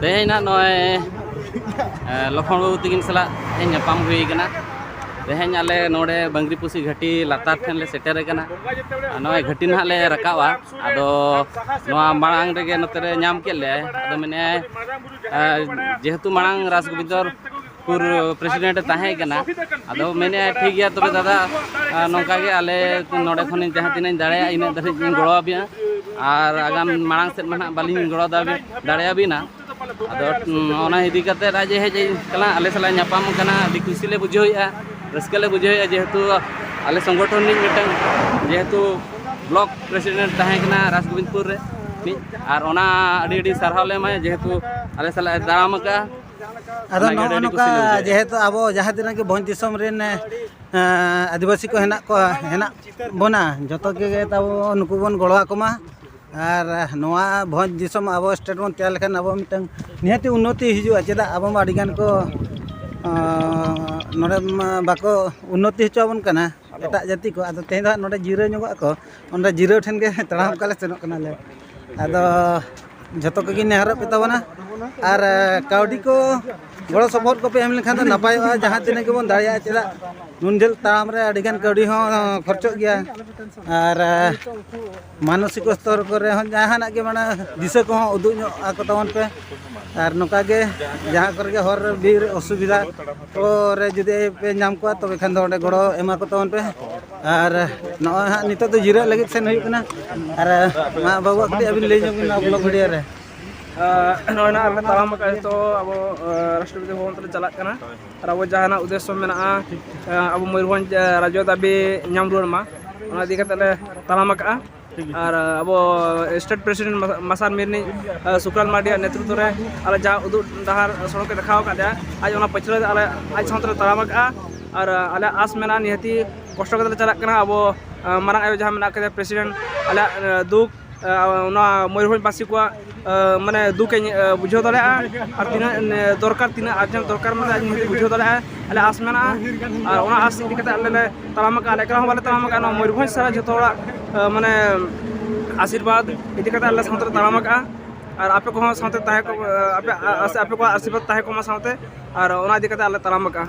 ᱛᱮᱦᱮᱧ ᱱᱟᱜ ᱱᱚᱜᱼᱚᱭ ᱞᱚᱠᱷᱚᱱ ᱵᱟᱹᱵᱩ ᱛᱤᱠᱤᱱ ᱥᱟᱞᱟᱜ ᱛᱮᱦᱮᱧ ᱧᱟᱯᱟᱢ ᱦᱩᱭ ᱠᱟᱱᱟ ᱛᱮᱦᱮᱧ ᱟᱞᱮ ᱱᱚᱰᱮ ᱵᱟᱝᱨᱤᱯᱩᱥᱤ ᱜᱷᱟᱹᱴᱤ ᱞᱟᱛᱟᱨ ᱴᱷᱮᱱ ᱞᱮ ᱥᱮᱴᱮᱨ ᱠᱟᱱᱟ ᱱᱚᱜᱼᱚᱭ ᱜᱷᱟᱹᱴᱤ ᱱᱟᱦᱟᱜ ᱞᱮ ᱨᱟᱠᱟᱵᱟ ᱟᱫᱚ ᱱᱚᱣᱟ ᱢᱟᱲᱟᱝ ᱨᱮᱜᱮ ᱱᱚᱛᱮ ᱨᱮ ᱧᱟᱢ ᱠᱮᱫ ᱞᱮᱭᱟᱭ ᱟᱫᱚ ᱢᱮᱱᱮᱫ ᱟᱭ ᱡᱮᱦᱮᱛᱩ ᱢᱟᱲᱟᱝ ᱨᱟᱥ ᱜᱳᱵᱤᱱᱫᱚᱨ ᱯᱩᱨ ᱯᱨᱮᱥᱤᱰᱮᱱᱴ ᱛᱟᱦᱮᱸ ᱠᱟᱱᱟ ᱟᱫᱚ ᱢᱮᱱᱮᱫᱼᱟ ᱴᱷᱤᱠ ᱜᱮᱭᱟ ᱛᱚᱵᱮ ᱫᱟᱫᱟ ᱱᱚᱝᱠᱟ ᱜᱮ ᱟᱞᱮ ᱱᱚᱰᱮ ᱠᱷᱚᱱ ᱡᱟᱦᱟᱸ ᱛᱤᱱᱟᱹᱜ ᱤᱧ ᱫᱟᱲᱮᱭᱟᱜᱼᱟ ᱤᱱᱟᱹᱜ ᱫᱷᱟᱹᱨᱤᱡ ᱤᱧ ᱜᱚᱲᱚ ᱟᱵᱤᱱᱟ ᱟᱨ ᱟᱜᱟᱢ ᱢᱟᱲᱟᱝ ᱥᱮᱫ ᱢᱟ ᱱᱟᱦᱟᱜ ᱵᱟᱹᱞᱤᱧ ᱜᱚᱲᱚ ᱫᱟᱲᱮᱭᱟᱵᱤᱱᱟ ᱟᱫᱚ ᱚᱱᱟ ᱤᱫᱤ ᱠᱟᱛᱮ ᱟᱡ ᱮ ᱦᱮᱡ ᱠᱟᱱᱟ ᱟᱞᱮ ᱥᱟᱞᱟᱜ ᱧᱟᱯᱟᱢ ᱠᱟᱱᱟ ᱟᱹᱰᱤ ᱠᱩᱥᱤ ᱞᱮ ᱵᱩᱡᱷᱟᱹᱣᱮᱫᱼᱟ ᱨᱟᱹᱥᱠᱟᱹ ᱞᱮ ᱵᱩᱡᱷᱟᱹᱣᱮᱫᱼᱟ ᱡᱮᱦᱮᱛᱩ ᱟᱞᱮ ᱥᱚᱝᱜᱚᱴᱷᱚᱱ ᱨᱤᱱᱤᱡ ᱢᱤᱫᱴᱟᱝ ᱡᱮᱦᱮᱛᱩ ᱵᱞᱚᱠ ᱯᱨᱮᱥᱤᱰᱮᱱᱴ ᱛᱟᱦᱮᱸ ᱠᱟᱱᱟ ᱨᱟᱡᱽᱜᱳᱵᱤᱱᱫᱯᱩᱨ ᱨᱮ ᱟᱨ ᱚᱱᱟ ᱟᱹᱰᱤ ᱟᱹᱰᱤ ᱥᱟᱨᱦᱟᱣ ᱞᱮ ᱮᱢᱟᱭᱟ ᱡᱮᱦᱮᱛᱩ ᱟᱞᱮ ᱥᱟᱞᱟᱜ ᱮ ᱛᱟᱲᱟᱢ ᱟᱠᱟᱫᱼᱟ ᱟᱫᱚ ᱱᱚᱜᱼᱚ ᱱᱚᱝᱠᱟ ᱡᱮᱦᱮᱛᱩ ᱟᱵᱚ ᱡᱟᱦᱟᱸ ᱛᱤᱱᱟᱹᱜ ᱜᱮ ᱵᱷᱚᱸᱡᱽ ᱫᱤᱥᱚᱢ ᱨᱮᱱ ᱟᱹᱫᱤᱵᱟᱹᱥᱤ ᱠᱚ ᱦᱮᱱᱟᱜ ᱠᱚᱣᱟ ᱦᱮᱱᱟᱜ ᱵᱚᱱᱟ ᱡᱚᱛᱚ ᱜᱮ ᱛᱟᱵᱚ ᱱᱩᱠᱩ ᱵᱚᱱ ᱜᱚᱲᱚ ᱟᱠᱚ ᱢᱟ ᱟᱨ ᱱᱚᱣᱟ ᱵᱷᱚᱸᱡᱽ ᱫᱤᱥᱚᱢ ᱟᱵᱚ ᱥᱴᱮᱴ ᱵᱚᱱ ᱛᱮᱭᱟᱨ ᱞᱮᱠᱷᱟᱱ ᱟᱵᱚ ᱢᱤᱫᱴᱟᱹᱝ ᱱᱤᱦᱟᱹᱛᱤ ᱩᱱᱱᱚᱛᱤ ᱦᱤᱡᱩᱜᱼᱟ ᱪᱮᱫᱟᱜ ᱟᱵᱚ ᱢᱟ ᱟᱹᱰᱤ ᱜᱟᱱ ᱠᱚ ᱱᱚᱰᱮ ᱢᱟ ᱵᱟᱠᱚ ᱩᱱᱱᱚᱛᱤ ᱦᱚᱪᱚ ᱟᱵᱚᱱ ᱠᱟᱱᱟ ᱮᱴᱟᱜ ᱡᱟᱹᱛᱤ ᱠᱚ ᱟᱫᱚ ᱛᱮᱦᱮᱧ ᱫᱚ ᱱᱚᱰᱮ ᱡᱤᱨᱟᱹᱣ ᱧᱚᱜᱚᱜ ᱟᱠᱚ ᱚᱸᱰᱮ ᱡᱤᱨᱟᱹᱣ ᱴᱷᱮᱱ ᱜᱮ ᱛᱟᱲᱟᱢ ᱚᱱᱠᱟ ᱞᱮ ᱥᱮᱱᱚᱜ ᱠᱟᱱᱟᱞᱮ ᱟᱫᱚ ᱡᱷᱚᱛᱚ ᱠᱚᱜᱮ ᱱᱮᱦᱚᱨᱚᱜ ᱯᱮ ᱛᱟᱵᱚᱱᱟ ᱟᱨ ᱠᱟᱹᱣᱰᱤ ᱠᱚ ᱜᱚᱲᱚ ᱥᱚᱯᱚᱦᱚᱫ ᱠᱚᱯᱮ ᱮᱢ ᱞᱮᱠᱷᱟᱱ ᱫᱚ ᱱᱟᱯᱟᱭᱚᱜᱼᱟ ᱡᱟᱦᱟᱸ ᱛᱤᱱᱟᱹᱜ ᱜᱮᱵᱚᱱ ᱫᱟᱲᱮᱭᱟᱜᱼᱟ ᱪᱮᱫᱟᱜ ᱱᱩᱱ ᱡᱷᱟᱹᱞ ᱛᱟᱲᱟᱢ ᱨᱮ ᱟᱹᱰᱤ ᱜᱟᱱ ᱠᱟᱹᱣᱰᱤ ᱦᱚᱸ ᱠᱷᱚᱨᱪᱚᱜ ᱜᱮᱭᱟ ᱟᱨ ᱢᱟᱱᱚᱥᱤᱠ ᱥᱛᱚᱨ ᱠᱚᱨᱮ ᱦᱚᱸ ᱡᱟᱦᱟᱱᱟᱜ ᱜᱮ ᱢᱟᱱᱮ ᱫᱤᱥᱟᱹ ᱠᱚᱦᱚᱸ ᱩᱫᱩᱜ ᱧᱚᱜ ᱟᱠᱚ ᱛᱟᱵᱚᱱ ᱯᱮ ᱟᱨ ᱱᱚᱝᱠᱟ ᱜᱮ ᱡᱟᱦᱟᱸ ᱠᱚᱨᱮ ᱜᱮ ᱦᱚᱨ ᱵᱤᱨ ᱚᱥᱩᱵᱤᱫᱷᱟ ᱠᱚᱨᱮ ᱡᱩᱫᱤ ᱯᱮ ᱧᱟᱢ ᱠᱚᱣᱟ ᱛᱚᱵᱮ ᱠᱷᱟᱱ ᱫᱚ ᱚᱸᱰᱮ ᱜᱚᱲᱚ ᱮᱢᱟ ᱠᱚ ᱛᱟᱵᱚᱱ ᱯᱮ ᱟᱨ ᱱᱚᱜᱼᱚᱭ ᱦᱟᱸᱜ ᱱᱤᱛᱚᱜ ᱫᱚ ᱡᱤᱨᱟᱹᱜ ᱞᱟᱹᱜᱤᱫ ᱥᱮᱱ ᱦᱩᱭᱩᱜ ᱠᱟᱱᱟ ᱟᱨ ᱢᱟ ᱵᱟᱹᱵᱩᱣᱟᱜ ᱠᱟᱹᱴᱤᱡ ᱟᱹᱵᱤᱱ ᱞᱟᱹᱭ ᱧᱚᱜ ᱵᱤᱱ ᱱᱚᱣᱟ ᱵᱞᱚᱜ ᱵᱷᱤᱰᱤᱭᱳ ᱨᱮ ᱱᱚᱜᱼᱚᱭ ᱱᱟᱜ ᱟᱞᱮ ᱛᱟᱲᱟᱢ ᱟᱠᱟᱫ ᱱᱤᱛᱚᱜ ᱟᱵᱚ ᱨᱟᱥᱴᱨᱚᱯᱚᱛᱤ ᱵᱷᱚᱵᱚᱱ ᱛᱮᱞᱮ ᱪᱟᱞᱟᱜ ᱠᱟᱱᱟ ᱟᱨ ᱟᱵᱚ ᱡᱟᱦᱟᱱᱟᱜ ᱩᱫᱽᱫᱮᱥᱥᱚ ᱢᱮᱱᱟᱜᱼᱟ ᱟᱵᱚ ᱢᱚᱭᱩᱨᱵᱷᱚᱸᱡᱽ ᱨᱟᱡᱽᱡᱚ ᱫᱟᱹᱵᱤ ᱧᱟᱢ ᱨᱩᱣᱟᱹᱲ ᱢᱟ ᱚᱱᱟ ᱤᱫᱤ ᱠᱟᱛᱮᱫ ᱞᱮ ᱛᱟᱲᱟᱢ ᱟᱠᱟᱫᱼᱟ ᱟᱨ ᱟᱵᱚ ᱥᱴᱮᱴ ᱯᱨᱮᱥᱤᱰᱮᱱᱴ ᱢᱟᱥᱟᱨ ᱢᱤᱨᱱᱤ ᱥᱩᱠᱨᱟᱞ ᱢᱟᱨᱰᱤᱭᱟᱜ ᱱᱮᱛᱨᱤᱛᱵ ᱨᱮ ᱟᱞᱮ ᱡᱟ ᱩᱫᱩᱜ ᱰᱟᱦᱟᱨ ᱥᱚᱲᱚᱠ ᱮ ᱫᱮᱠᱷᱟᱣ ᱟᱠᱟᱫ ᱞᱮᱭᱟ ᱟᱡ ᱚᱱᱟ ᱯᱟᱹᱪᱷᱞᱟᱹ ᱨᱮ ᱟᱞᱮ ᱟᱡ ᱥᱟᱶᱛᱮ ᱞᱮ ᱛᱟᱲᱟᱢ ᱟᱠᱟᱫᱼᱟ ᱟᱨ ᱟᱞᱮ ᱟᱥ ᱢᱮᱱᱟᱜᱼᱟ ᱱᱤᱦᱟᱹᱛᱤ ᱠᱚᱥᱴᱚ ᱠᱟᱛᱮ ᱞᱮ ᱪᱟᱞᱟᱜ ᱠᱟᱱᱟ ᱟᱵᱚ ᱢᱟᱨᱟᱝ ᱟᱭᱳ ᱡᱟᱦᱟᱸ ᱢᱮᱱᱟᱜ ᱟᱠᱟᱫᱮᱭᱟ ᱯᱨᱮᱥᱤᱰᱮᱱᱴ ᱟᱞᱮᱭᱟᱜ ᱫᱩᱠ ᱚᱱᱟ ᱢᱚᱭᱩᱨᱵᱷᱚᱸᱡᱽ ᱵᱟᱥᱤ ᱠᱚᱣᱟᱜ ᱢᱟᱱᱮ ᱫᱩᱠ ᱤᱧ ᱵᱩᱡᱷᱟᱹᱣ ᱫᱟᱲᱮᱭᱟᱜᱼᱟ ᱟᱨ ᱛᱤᱱᱟᱹᱜ ᱫᱚᱨᱠᱟᱨ ᱛᱤᱱᱟᱹᱜ ᱟᱨᱡᱮᱱᱴ ᱫᱚᱨᱠᱟᱨ ᱢᱮᱱᱟᱜᱼᱟ ᱤᱧ ᱦᱚᱸᱛᱚ ᱵᱩᱡᱷᱟᱹᱣ ᱫᱟᱲᱮᱭᱟᱜᱼᱟ ᱟᱞᱮ ᱟᱥ ᱢᱮᱱᱟᱜᱼᱟ ᱟᱨ ᱚᱱᱟ ᱟᱥ ᱤᱫᱤ ᱠᱟᱛᱮ ᱟᱞᱮ ᱞᱮ ᱛᱟᱲᱟᱢ ᱟᱠᱟᱫᱼᱟ ᱟᱞᱮ ᱮᱠᱞᱟ ᱦᱚᱸ ᱵᱟᱞᱮ ᱛᱟᱲᱟᱢ ᱟᱠᱟᱫᱼᱟ ᱱᱚᱣᱟ ᱢᱚᱭᱩᱨᱵᱷᱚᱸᱡᱽ ᱥᱟᱨᱟ ᱡᱚᱛᱚ ᱦᱚᱲᱟᱜ ᱢᱟᱱᱮ ᱟᱥᱤᱨᱵᱟᱫᱽ ᱤᱫᱤ ᱠᱟᱛᱮ ᱟᱞᱮ ᱥᱟᱶᱛᱮ ᱞᱮ ᱛᱟᱲᱟᱢ ᱟᱠᱟᱫᱼᱟ ᱟᱨ ᱟᱯᱮ ᱠᱚᱦᱚᱸ ᱥᱟᱶᱛᱮ ᱛᱟᱦᱮᱸ ᱠᱚᱜ ᱟᱯᱮ ᱟᱯᱮ ᱠᱚᱣᱟᱜ ᱟᱥᱤᱨᱵᱟᱫᱽ ᱛᱟᱦᱮᱸ ᱠᱚᱜ ᱢᱟ ᱥᱟᱶᱛᱮ ᱟᱨ ᱚᱱᱟ ᱤᱫᱤ ᱠᱟᱛᱮ ᱟᱞᱮ ᱞᱮ ᱛᱟᱲᱟᱢ ᱟᱠᱟᱫᱼᱟ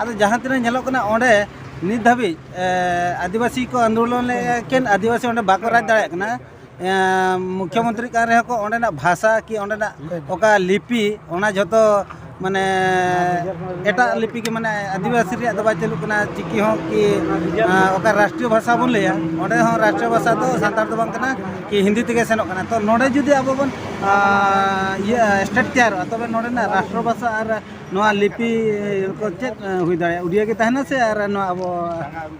ᱟᱫᱚ ᱡᱟᱦᱟᱸ ᱛᱤᱱᱟᱹᱜ ᱧᱮᱞᱚᱜ ᱠᱟᱱᱟ ᱚᱸᱰᱮ ᱱᱤᱛ ᱫᱷᱟᱹᱵᱤᱡ ᱟᱹᱫᱤᱵᱟᱹᱥᱤ ᱠᱚ ᱟᱱᱫᱳᱞᱚᱱ ᱞᱮᱫ ᱮᱠᱮᱱ ᱟᱹᱫᱤᱵᱟᱹᱥᱤ ᱚᱸᱰᱮ ᱵᱟᱠᱚ ᱨᱟᱡᱽ ᱫᱟᱲᱮᱭᱟᱜ ᱠᱟᱱᱟ ᱢᱩᱠᱷᱭᱚ ᱢᱚᱱᱛᱨᱤ ᱠᱟᱱ ᱨᱮᱦᱚᱸ ᱠᱚ ᱚᱸᱰᱮᱱᱟᱜ ᱵᱷᱟᱥᱟ ᱠᱤ ᱚᱸᱰᱮᱱᱟᱜ ᱚᱠᱟ ᱞᱤᱯᱤ ᱚᱱᱟ ᱡᱷᱚᱛᱚ ᱢᱟᱱᱮ ᱮᱴᱟᱜ ᱞᱤᱯᱤ ᱜᱮ ᱢᱟᱱᱮ ᱟᱹᱫᱤᱵᱟᱹᱥᱤ ᱨᱮᱭᱟᱜ ᱫᱚ ᱵᱟᱭ ᱪᱟᱹᱞᱩᱜ ᱠᱟᱱᱟ ᱪᱤᱠᱤ ᱦᱚᱸ ᱠᱤ ᱚᱠᱟ ᱨᱟᱥᱴᱨᱤᱭᱚ ᱵᱷᱟᱥᱟ ᱵᱚᱱ ᱞᱟᱹᱭᱟ ᱚᱸᱰᱮ ᱦᱚᱸ ᱨᱟᱥᱴᱨᱤᱭᱚ ᱵᱷᱟᱥᱟ ᱫᱚ ᱥᱟᱱᱛᱟᱲ ᱫᱚ ᱵᱟᱝ ᱠᱟᱱᱟ ᱠᱤ ᱦᱤᱱᱫᱤ ᱛᱮᱜᱮ ᱥᱮᱱᱚᱜ ᱠᱟᱱᱟ ᱛᱚ ᱱᱚᱸᱰᱮ ᱡᱩᱫᱤ ᱟᱵᱚ ᱵᱚᱱ ᱤᱭᱟᱹ ᱥᱴᱮᱴ ᱛᱮᱭᱟᱨᱚᱜᱼᱟ ᱛᱚᱵᱮ ᱱᱚᱸᱰᱮᱱᱟᱜ ᱨᱟᱥᱴᱨᱚ ᱵᱷᱟᱥᱟ ᱟᱨ ᱱᱚᱣᱟ ᱞᱤᱯᱤ ᱠᱚ ᱪᱮᱫ ᱦᱩᱭ ᱫᱟᱲᱮᱭᱟᱜᱼᱟ ᱩᱰᱤᱭᱟ ᱜᱮ ᱛᱟᱦᱮᱱᱟ ᱥᱮ ᱟᱨ ᱱᱚᱣᱟ ᱟᱵᱚ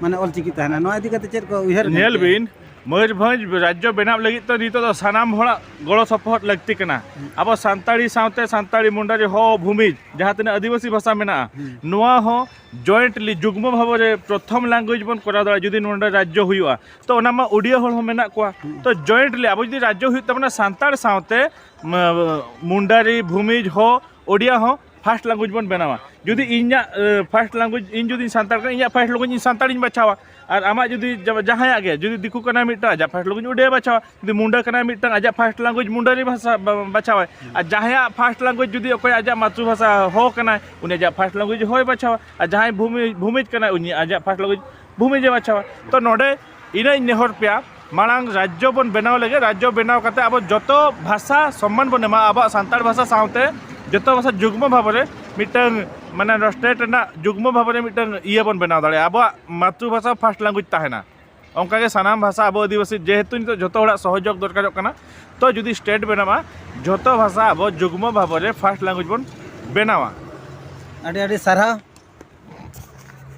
ᱢᱟᱱᱮ ᱚᱞᱪᱤᱠᱤ ᱛᱟᱦᱮᱱᱟ ᱱᱚᱣᱟ ᱤᱫᱤ ᱠᱟᱛᱮ ᱪᱮᱫ ᱠᱚ ᱩᱭᱦᱟᱹᱨ ᱧᱮᱞ ᱵᱤᱱ ᱢᱚᱭᱩᱨᱵᱷᱚᱸᱡᱽ ᱨᱟᱡᱽᱡᱚ ᱵᱮᱱᱟᱣ ᱞᱟᱹᱜᱤᱫ ᱛᱮ ᱱᱤᱛᱚᱜ ᱫᱚ ᱥᱟᱱᱟᱢ ᱦᱚᱲᱟᱜ ᱜᱚᱲᱚ ᱥᱚᱯᱚᱦᱚᱫ ᱞᱟᱹᱠᱛᱤ ᱠᱟᱱᱟ ᱟᱵᱚ ᱥᱟᱱᱛᱟᱲᱤ ᱥᱟᱶᱛᱮ ᱥᱟᱱᱛᱟᱲᱤ ᱢᱩᱱᱰᱟᱨᱤ ᱦᱚ ᱵᱷᱩᱢᱤᱡᱽ ᱡᱟᱦᱟᱸ ᱛᱤᱱᱟᱹᱜ ᱟᱹᱫᱤᱵᱟᱹᱥᱤ ᱵᱷᱟᱥᱟ ᱢᱮᱱᱟᱜᱼᱟ ᱱᱚᱣᱟ ᱦᱚᱸ ᱡᱚᱭᱮᱱᱴᱞᱤ ᱡᱩᱜᱽᱢᱚ ᱵᱷᱟᱵᱮ ᱨᱮ ᱯᱨᱚᱛᱷᱚᱢ ᱞᱮᱝᱜᱩᱭᱮᱡᱽ ᱵᱚᱱ ᱠᱚᱨᱟᱣ ᱫᱟᱲᱮᱭᱟᱜᱼᱟ ᱡᱩᱫᱤ ᱱᱚᱰᱮ ᱨᱟᱡᱽᱡᱚ ᱦᱩᱭᱩᱜᱼᱟ ᱛᱚ ᱚᱱᱟ ᱢᱟ ᱩᱰᱤᱭᱟ ᱦᱚᱲ ᱦᱚᱸ ᱢᱮᱱᱟᱜ ᱠᱚᱣᱟ ᱛᱚ ᱡᱚᱭᱮᱱᱴᱞᱤ ᱟᱵᱚ ᱡᱩᱫᱤ ᱨᱟᱡᱽᱡᱚ ᱦᱩᱭᱩᱜ ᱛᱟᱵᱚᱱᱟ ᱥᱟᱱᱛᱟᱲ ᱥᱟᱶᱛᱮ ᱢᱩᱱᱰᱟᱨᱤ ᱵᱷᱩᱢᱤᱡᱽ ᱦᱚ ᱳᱰᱤᱭᱟ ᱦᱚᱸ ᱯᱷᱟᱥᱴ ᱞᱟᱝᱜᱩᱭᱮᱡᱽ ᱵᱚᱱ ᱵᱮᱱᱟᱣᱟ ᱡᱩᱫᱤ ᱤᱧᱟᱹᱜ ᱯᱷᱟᱥᱴ ᱞᱟᱝᱜᱩᱭᱮᱡᱽ ᱤᱧ ᱡᱩᱫᱤᱧ ᱥᱟᱱᱛᱟᱲ ᱠᱟᱱᱟ ᱤᱧᱟᱹᱜ ᱯᱷᱟᱥᱴ ᱞᱟᱝᱜᱩᱭᱮᱡᱽ ᱤᱧ ᱥᱟᱱᱛᱟᱲᱤᱧ ᱵᱟᱪᱷᱟᱣᱟ ᱟᱨ ᱟᱢᱟᱜ ᱡᱩᱫᱤ ᱡᱟᱦᱟᱸᱭᱟᱜ ᱜᱮ ᱡᱩᱫᱤ ᱫᱤᱠᱩ ᱠᱟᱱᱟᱭ ᱢᱤᱫᱴᱟᱝ ᱟᱡᱟᱜ ᱯᱷᱟᱥᱴ ᱞᱟᱝᱜᱩᱭᱮᱡᱽ ᱳᱰᱤᱭᱟ ᱵᱟᱪᱷᱟᱣᱟ ᱡᱩᱫᱤ ᱢᱩᱱᱰᱟ ᱠᱟᱱᱟᱭ ᱢᱤᱫᱴᱟᱝ ᱟᱡᱟᱜ ᱯᱷᱟᱥᱴ ᱞᱟᱝᱜᱩᱭᱮᱡᱽ ᱢᱩᱱᱰᱟᱨᱤ ᱵᱷᱟᱥᱟ ᱵᱟᱪᱷᱟᱣᱟᱭ ᱟᱨ ᱡᱟᱦᱟᱸᱭᱟᱜ ᱯᱷᱟᱥᱴ ᱞᱟᱝᱜᱩᱭᱮᱡᱽ ᱡᱩᱫᱤ ᱚᱠᱚᱭ ᱟᱡᱟᱜ ᱢᱟᱛᱨᱩ ᱵᱷᱟᱥᱟ ᱦᱚ ᱠᱟᱱᱟᱭ ᱩᱱᱤ ᱟᱡᱟᱜ ᱯᱷᱟᱥᱴ ᱞᱟᱝᱜᱩᱭᱮᱡᱽ ᱦᱚᱭ ᱵᱟᱪᱷᱟᱣᱟ ᱟᱨ ᱡᱟᱦᱟᱸᱭ ᱵᱷᱩᱢᱤᱡᱽ ᱠᱟᱱᱟᱭ ᱩᱱᱤ ᱟᱡᱟᱜ ᱯᱷᱟᱥᱴ ᱞᱟᱝᱜᱩᱭᱮᱡᱽ ᱵᱷᱩᱢᱤ ᱡᱮ ᱵᱟᱪᱷᱟᱣᱟ ᱛᱚ ᱱᱚᱰᱮ ᱤᱱᱟᱹᱧ ᱱᱮᱦᱚᱨ ᱯᱮᱭᱟ ᱢᱟᱲᱟᱝ ᱨᱟᱡᱽᱡᱚ ᱵᱚᱱ ᱵᱮᱱᱟᱣ ᱞᱟᱹᱜᱤᱫ ᱨᱟᱡᱽᱡᱚ ᱵᱮᱱᱟᱣ ᱠᱟᱛᱮ ᱟᱵᱚ ᱡᱚᱛᱚ ᱵᱷᱟᱥᱟ ᱥᱚᱢᱢᱟᱱ ᱵᱚᱱ ᱮᱢᱟ ᱟᱵᱚᱣᱟᱜ ᱥᱟᱱᱛᱟᱲ ᱵᱷᱟᱥᱟ ᱥᱟᱶᱛᱮ ᱡᱚᱛᱚ ᱵᱷᱟᱥᱟ ᱡᱩᱜᱽᱢᱚ ᱵᱷᱟᱵᱮ ᱢᱤᱫᱴᱟᱝ ᱢᱟᱱᱮ ᱱᱚᱣᱟ ᱥᱴᱮᱴ ᱨᱮᱱᱟᱜ ᱡᱩᱜᱽᱢᱚ ᱵᱷᱟᱵᱮ ᱢᱤᱫᱴᱟᱝ ᱤᱭᱟᱹ ᱵᱚᱱ ᱵᱮᱱᱟᱣ ᱫᱟᱲᱮᱭᱟᱜᱼᱟ ᱟᱵᱚᱣᱟᱜ ᱢᱟᱛᱨᱤ ᱵᱷᱟᱥᱟ ᱯᱷᱟᱥᱴ ᱞᱮᱝᱜᱩᱭᱮᱡᱽ ᱛᱟᱦᱮᱱᱟ ᱚᱱᱠᱟ ᱜᱮ ᱥᱟᱱᱟᱢ ᱵᱷᱟᱥᱟ ᱟᱵᱚ ᱟᱹᱫᱤᱵᱟᱹᱥᱤ ᱡᱮᱦᱮᱛᱩ ᱱᱤᱛᱚᱜ ᱡᱚᱛᱚ ᱦᱚᱲᱟᱜ ᱥᱚᱦᱚᱡᱳᱜᱽ ᱫᱚᱨᱠᱟᱨᱚᱜ ᱠᱟᱱᱟ ᱛᱚ ᱡᱩᱫᱤ ᱥᱴᱮᱴ ᱵᱮᱱᱟᱜᱼᱟ ᱡᱚᱛᱚ ᱵᱷᱟᱥᱟ ᱟᱵᱚ ᱡᱩᱜᱽᱢᱚ ᱵᱷᱟᱵᱮ ᱯᱷᱟᱥᱴ ᱞᱮᱝᱜᱩᱭᱮᱡᱽ ᱵᱚᱱ ᱵᱮᱱᱟᱣᱟ ᱟᱹᱰᱤ ᱟᱹᱰᱤ ᱥᱟᱨᱦᱟᱣ